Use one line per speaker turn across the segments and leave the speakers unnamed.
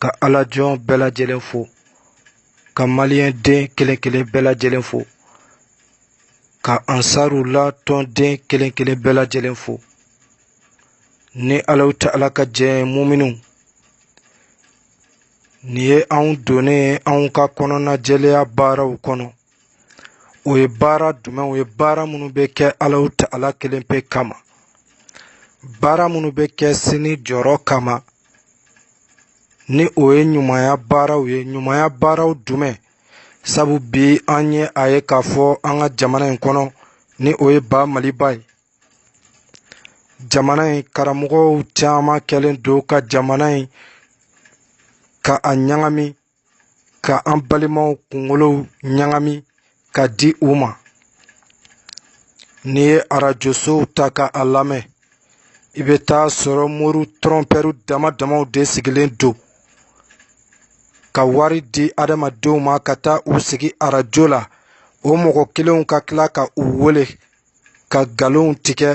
ka alajɔn bɛɛ lajɛlen fo ka maliyɛnden kelen kelen bɛɛ lajɛlen fo ka ansaru la tɔnden kelen kelen bɛɛ lajɛlen fo ni alaw ta ala ka jɛn muminiw nin ye anw donnen anw ka kɔnɔnajɛlenya baaraw kɔnɔ o ye baara jumɛn o ye baara minnu bɛ kɛ alaw ta ala kelen pe kama baara minnu bɛ kɛ sini jɔrɔ kama ni o ye ɲumanya baaraw ye ɲumanya baaraw jumɛn sabu bi an ye a ye k'a fɔ an ka jamana in kɔnɔ ni o ye ba maliba ye jamana in karamɔgɔw caman kɛlen don ka jamana in ka a ɲagami ka an balimaw kunkolow ɲagami ka di u ma n'i ye arajosow ta ka a lamɛn i bɛ t'a sɔrɔ mori tɔrɔnpɛriw dama damaw de sigilen don ka wari di adamadenw ma ka taa u sigi arajo la o mɔgɔ kelenw ka tila ka u wele ka nkalonw tigɛ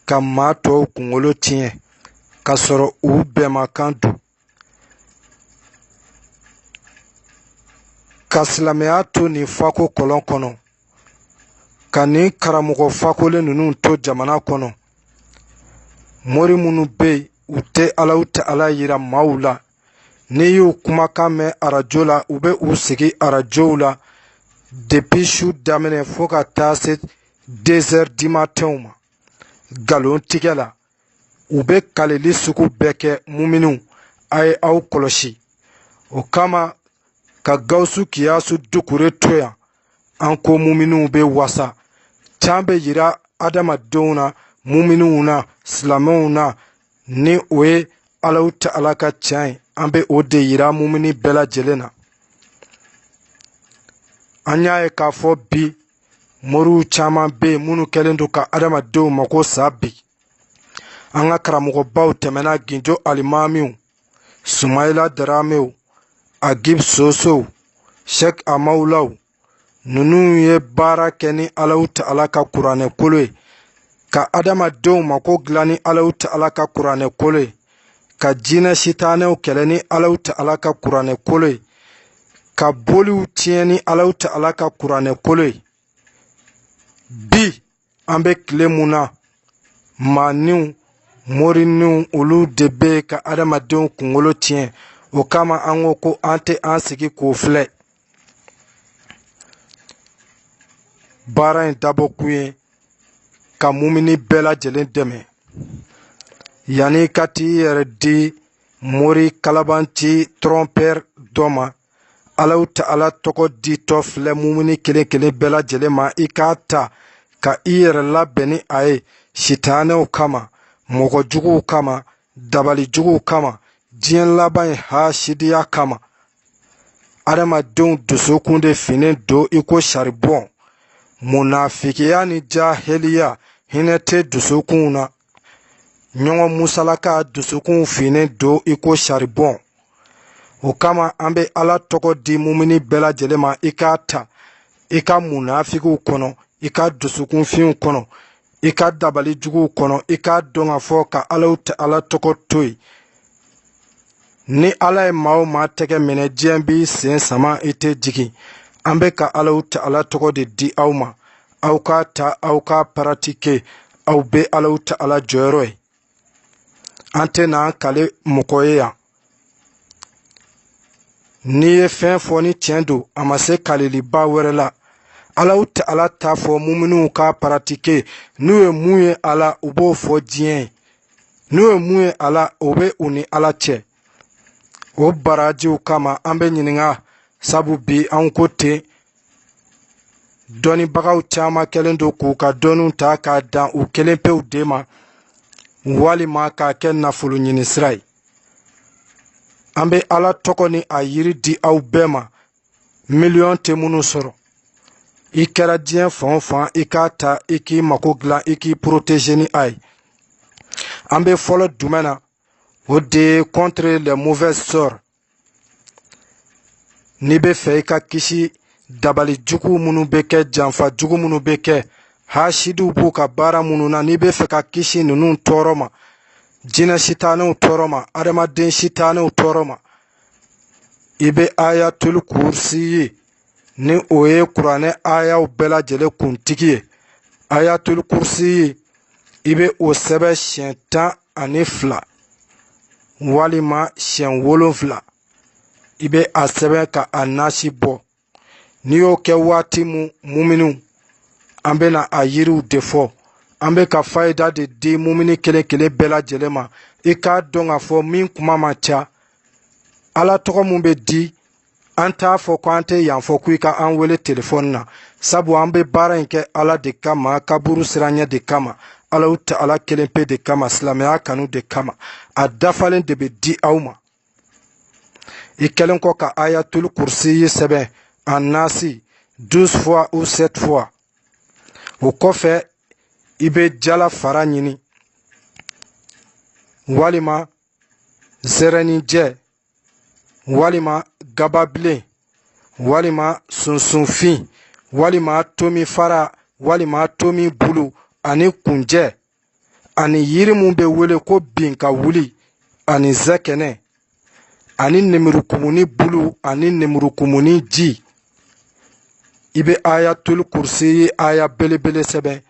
ka maa tɔw kunkolo tiɲɛ k'a sɔrɔ u bɛnmakan don ka silamɛya to nin fako kɔlɔn kɔnɔ ka nin karamɔgɔ fakolen ninnu to jamana kɔnɔ mori minnu bɛ yen u tɛ alaw ta ala yira maaw la n'i y'u kumakan mɛn arajo la u bɛ u sigi arajow la depi su daminɛ fo ka taa se dezɛri dimatɛnw ma nkalon tigɛ la u bɛ kaleli sugu bɛɛ kɛ muminiw a ye aw kɔlɔsi o kama ka gawusu kiyasu dukure to yan an ko muminiw bɛ wasa can bɛ yira adamadenw na muminiw na silamɛw na ni o ye alaw ta ala ka tiɲɛ ye an bɛ o de yira mumini bɛɛ lajɛlen na an y'a ye k'a fɔ bi moriw caman bɛ yen minnu kɛlen don ka adamadenw mako sa bi an ka karamɔgɔbaw tɛmɛna ginjo alimamiw sumayila daramew agib sosow shek amawulaw ninnu ye baara kɛ ni alaw ta ala ka kuranɛ kolo ye ka adamadenw mako dilan ni alaw ta ala ka kuranɛ kolo ye ka jinɛ sitanɛw kɛlɛ ni alaw ta ala ka kuranɛ kolo ye ka boliw tiɲɛ ni alaw ta ala ka kuranɛ kolo ye bi an bɛ tile mun na maaniw moriniw olu de bɛ ka adamadenw kunkolo tiɲɛ o kama an ko ko an tɛ an sigi k'o filɛ baara in dabɔ kun ye ka mumini bɛɛ lajɛlen dɛmɛ yanni ka t'i yɛrɛ di mori kalabanci trɔnpɛri dɔ ma alahu ta'ala tɔgɔ ditɔ filɛ mumini kelen kelen bɛɛ lajɛlen ma i k'a ta ka i yɛrɛ labɛn ni a ye sitanɛw kama mɔgɔ juguw kama dabali juguw kama diɲɛ laban ye hasidiya kama adamadenw dusukun de finnen don i ko saribɔn munafikiya ni jahiliya hinɛ tɛ dusukunw na ɲɔgɔn musalaka dusukunw finnen don i ko saribɔn o kama an bɛ ala tɔgɔ di mumini bɛɛ lajɛlen ma i k'a ta i ka munafikiw kɔnɔ i ka dusukunfinw kɔnɔ i ka dabali juguw kɔnɔ i k'a dɔn k'a fɔ ka alahu ta'ala tɔgɔ to yen ni ala ye maa o maa tɛgɛ minɛ diɲɛ b'i sen sama i tɛ jigin an bɛ ka alahu ta'ala tɔgɔ de di aw ma aw k'a ta aw k'a paratike aw bɛ alahu ta'ala jɔyɔrɔ ye an tɛn'an kale mɔgɔ ye yan n'i ye fɛn fɔ ni tiɲɛ don a ma se kaleliba wɛrɛ la alahu ta'ala t'a fɔ muminuw k'a paratike n'u ye mun ye a la u b'o fɔ diɲɛ ye n'u ye mun ye a la o bɛ u ni ala cɛ o barajiw kama an bɛ ɲininka sabu bi anw ko ten dɔnnibagaw caman kɛlen don k'u ka dɔnniw ta k'a dan u kelen pew de ma walima k'a kɛ nafolo ɲini sira ye an bɛ ala tɔgɔ ni a yiri di aw bɛɛ ma miliyɔn tɛ minnu sɔrɔ i kɛra diɲɛ fan o fan i k'a ta i k'i mako dilan i k'i poroteze ni a ye an bɛ fɔlɔ jumɛn na o de ye contre les mauvaises sorts n'i bɛ fɛ i ka kisi dabali jugu minnu bɛ kɛ janfa jugu minnu bɛ kɛ hasidiw b'u ka baara minnu na n'i bɛ fɛ ka kisi ninnu tɔɔrɔ ma jinɛ sitanɛw tɔɔrɔ ma adamaden sitanɛw tɔɔrɔ ma i bɛ ayatul kursi ye ni o ye kuranɛ ayaw bɛɛ lajɛlen kuntigi ye ayatul kursi ye i bɛ o sɛbɛn siɲɛ tan ani fila walima siɲɛ wolonfila i bɛ a sɛbɛn ka a nasi bɔ n'i y'o kɛ waati mun muminiw an bɛna a yiriw de fɔ an bɛ ka fayida de di mumini kelen kelen bɛɛ lajɛlen ma i k'a dɔn k'a fɔ min kuma man ca ala tɔgɔ min bɛ di an t'a fɔ ko an tɛ yan fɔ ko i ka an wele telefɔni na sabu an bɛ baara in kɛ ala de kama kaburu siranɲɛ de kama alahu ta'ala kelen pe de kama silamɛya kanu de kama a dafalen de bɛ di aw ma i kɛlen kɔ ka ayatul kursi sɛbɛn a nasi douze fois ou sept fois o kɔfɛ i bɛ jala fara ɲini walima zɛrɛninjɛ walima gababilen walima sunsunfin walima tomi fara walima tomi bulu ani kunjɛ ani yiri min bɛ wele ko bin ka wuli ani zɛkɛnɛ ani nemurukumuni bulu ani nemurukumuni ji i bɛ ayatul kursi aya belebele sɛbɛn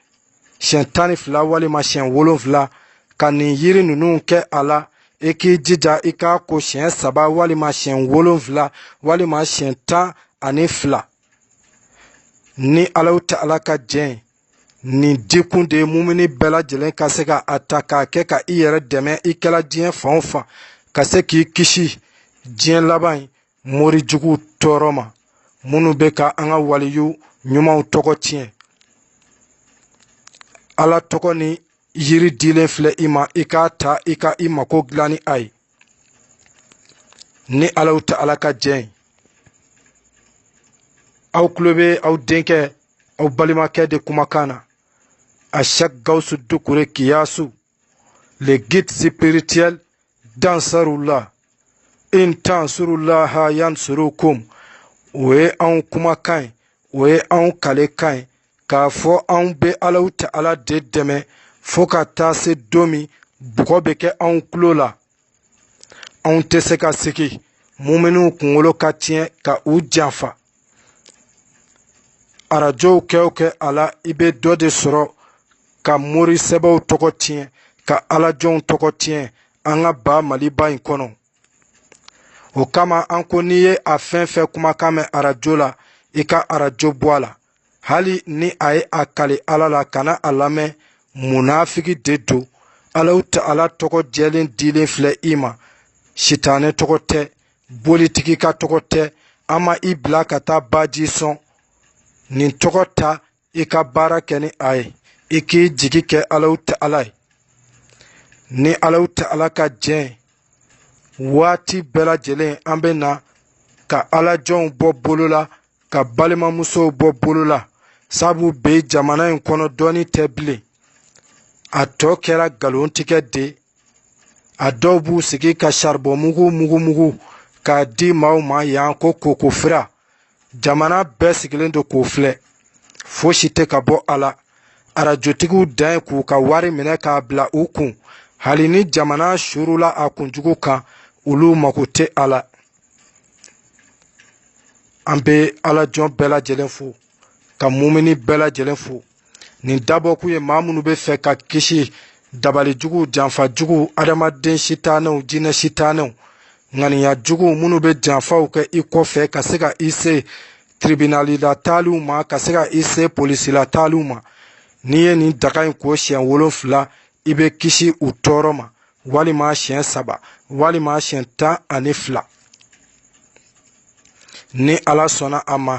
siɲɛ tan ni fila walima siɲɛ wolonfila ka nin yiri ninnu kɛ a la i k'i jija i k'a ko siɲɛ saba walima siɲɛ wolonfila walima siɲɛ tan ani fila ni alahu ta'ala ka jɛn nin dikun de ye mumuni bɛɛ lajɛlen ka se ka a ta k'a kɛ ka i yɛrɛ dɛmɛ i kɛla diɲɛ fan o fan ka se k'i kisi diɲɛ laban in morijuguw tɔɔrɔ ma minnu bɛ ka an ka waliyu ɲumanw tɔgɔ tiɲɛ ala tɔgɔ ni yiri dilen filɛ i ma i k'a ta i ka i mako dilan ni a ye ni alahu ta'ala ka jɛn aw tulo bɛ aw denkɛ aw balimakɛ de kumakan na ashɛki gawusu dukure kiyasu le guide spirituel d'ansarullah in tansurullaha yansurukum o ye anw kumakan ye o ye anw kalekan ye k'a fɔ anw bɛ alahu ta'ala de dɛmɛ fo ka taa se don min bɔgɔ bɛ kɛ anw tulo la anw tɛ se ka sigi muminiw kunkolo ka tiɲɛ ka u janfa arajow kɛ o kɛ a la i bɛ dɔ de sɔrɔ ka mori sɛbɛw tɔgɔ tiɲɛ ka alajɔnw tɔgɔ tiɲɛ an ka ba maliba in kɔnɔ o kama an ko n'i ye a fɛn fɛn kumakan mɛn arajo la i ka arajo bɔ a la hali ni a ye a kali ala la kana a lamɛn munafiki de don alahu ta'ala tɔgɔ jɛlen dilen filɛ i ma sitanɛ tɔgɔ tɛ bolitigi ka tɔgɔ tɛ an ma i bila ka taa baji sɔn nin tɔgɔ ta i ka baara kɛ ni a ye i k'i jigi kɛ alahu ta'ala ye ni alahu ta'ala ka jɛn waati bɛɛ lajɛlen an bɛ na ka alajɔnw bɔ bolo la ka balimamusow bɔ bolo la sabu bi jamana in kɔnɔ dɔnni tɛ bilen a tɔ kɛra nkalontigɛ de a dɔw b'u sigi ka saribɔn mugu mugu mugu k'a di maaw ma yan ko koko fira jamana bɛɛ sigilen don k'o filɛ fosi tɛ ka bɔ a la arajotigiw dan ye k'u ka wari minɛ k'a bila u kun hali ni jamana surula a kunjugu kan olu mago tɛ a la an bɛ ala jɔn bɛɛ lajɛlen fo ka mumini bɛɛ lajɛlen fo nin dabɔkun ye maa minnu bɛ fɛ ka kisi dabali jugu janfa jugu adamaden sitanɛw jinɛ sitanɛw ŋaniya jugu minnu bɛ janfaw kɛ i kɔfɛ ka se ka i se tribinalila taaliw ma ka se ka i se polisila taaliw ma n'i ye nin daga in ko siɲɛ wolonfila i bɛ kisi u tɔɔrɔ ma walima siɲɛ saba walima siɲɛ tan ani fila ni ala sɔnna a ma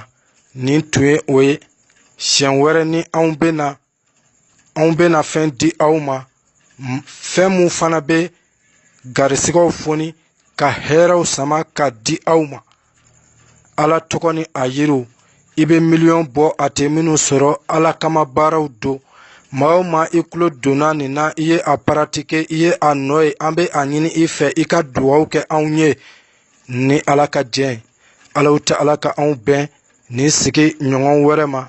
nin tun ye o ye siɲɛ wɛrɛ ni anw bɛna fɛn di aw ma fɛn mun fana bɛ garisigɛw foni ka hɛrɛw sama ka di aw ma ala tɔgɔ ni a yiriw i bɛ miliyɔn bɔ a tɛ minnu sɔrɔ ala kama baaraw don maa o maa i kulo donna nin na i ye a paratike i ye a nɔ ye an bɛ a ɲini i fɛ i ka duwaw kɛ anw ye ni ala ka jɛ ye alahu taala ka anw bɛn nin sigi ɲɔgɔn wɛrɛ ma